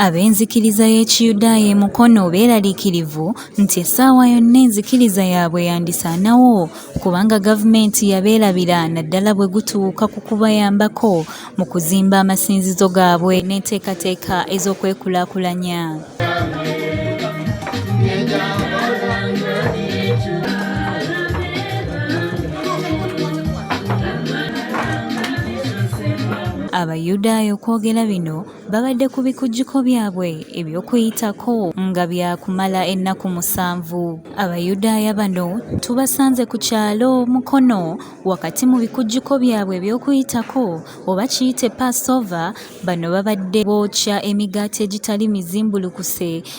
Ab'enzikiriza y'Ekiyudaaya e Mukono beeraliikirivu nti essaawa yonna enzikiriza yaabwe yandisaanawo kubanga gavumenti yabeerabira naddala bwe gutuuka ku kubayambako mu kuzimba amasinzizo gaabwe n'enteekateeka ez'okwekulaakulanya. Abayudaaya okwogera bino babadde ku bikujjuko byabwe eby'okuyitako nga byakumala ennaku musanvu abayudaaya bano tubasanze ku kyalo mukono wakati mu bikujjuko byabwe eby'okuyitako oba kiyite passover bano babadde bookya emigaati egitali mizimbulukuse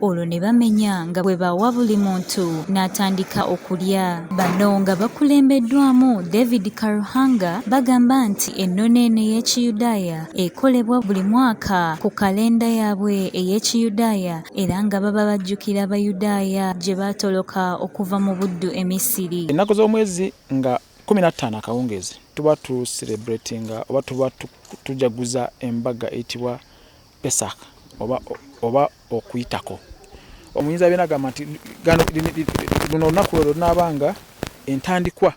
olwo ne bamenya nga bwe bawa buli muntu n'atandika okulya bano nga bakulembeddwamu david karuhanga bagamba nti ennono eno ey'ekiyudaaya ekolebwa buli mwaka ku kalenda yaabwe ey'ekiyudaaya era nga baba bajjukira abayudaaya gye baatoloka okuva mu buddu e misiri ennaku z'omwezi nga kumi na ttaano akawungeezi tuba tuserebratinga oba tuba tujaguza embaga eyitibwa Pesach oba, oba okuyitako. Omuyinza byona agamba nti luno olunaku lwe lunaaba nga entandikwa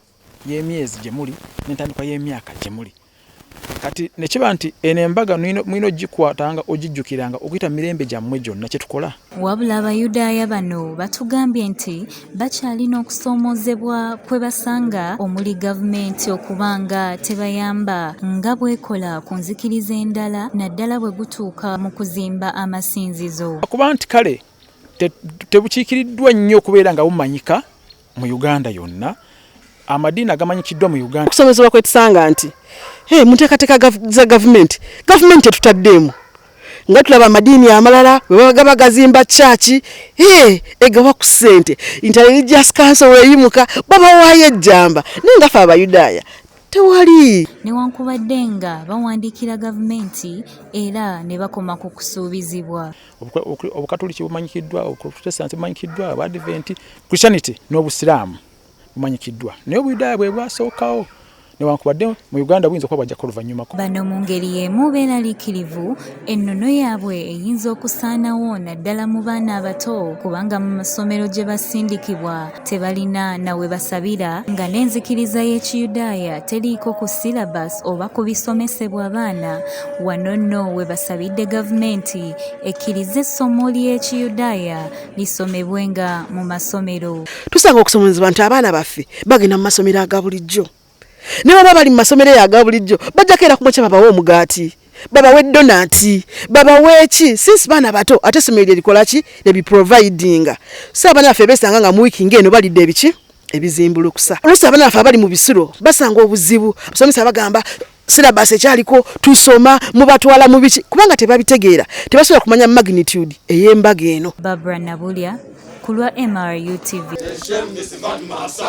y'emyezi gye muli n'entandikwa y'emyaka gye muli. Kati ne kiba nti eno embaga mulina okugikwatanga, okugijjukiranga okuyita mirembe gyammwe gyonna kye tukola. Wabula Abayudaaya bano batugambye nti bakyalina okusoomoozebwa kwe basanga omuli gavumenti okuba nga tebayamba nga bwekola ku nzikiriza endala naddala bwe gutuuka mu kuzimba amasinzizo. Okuba nti kale tebukiikiriddwa nnyo okubeera nga bumanyika, mu Uganda yonna amadiini agamanyikiddwa mu Uganda. Okusomezebwa kwe tusanga nti hey, mu nteekateeka za gavumenti gavumenti etutaddeemu nga tulaba amadiini amalala webagaba gazimba kyaki hey, egawa ku ssente intelligence council weyimuka babawaayo ejjamba naye ngafe abayudaaya tewali newankubadde nga bawandiikira gavumenti era ne bakoma ku kusuubizibwa obukatuliki bumanyikiddwa obuprotestanti bumanyikiddwa abadventi christianity n'obusiraamu bumanyikiddwa naye obuyudaaya bwe bwasookawo newankubadde mu uganda buyinza okuba bwajjako oluvannyumako bano mu ngeri y'emu beeraliikirivu ennono yaabwe eyinza okusaanawo naddala mu baana abato kubanga mu masomero gye basindikibwa tebalina na we basabira nga n'enzikiriza y'ekiyudaaya teriiko ku syllabus oba ku bisomesebwa abaana wano nno we basabidde gavumenti ekkirize essomo ly'ekiyudaaya lisomebwenga mu masomero tusanga okusomozebwa nti abaana baffe bagenda mu masomero aga bulijjo ne baba bali mu masomero eyo aga bulijjo bajjako era kumwekya babawa omugaati babawe donati babaweeki since baana bato ate essomero lye likola ki lyebiprovidinga so abaana baffe besanga nga muwiiki ngaeno balidde ebiki ebizimbulukusa oluusi abaana baffe abali mu bisiro basanga obuzibu abasomesa bagamba silabas ekyaliko tusoma mubatwala mu biki kubanga tebabitegeera tebasobola kumanya magnitude ey'embaga eno babra nabulya kulwa mrutv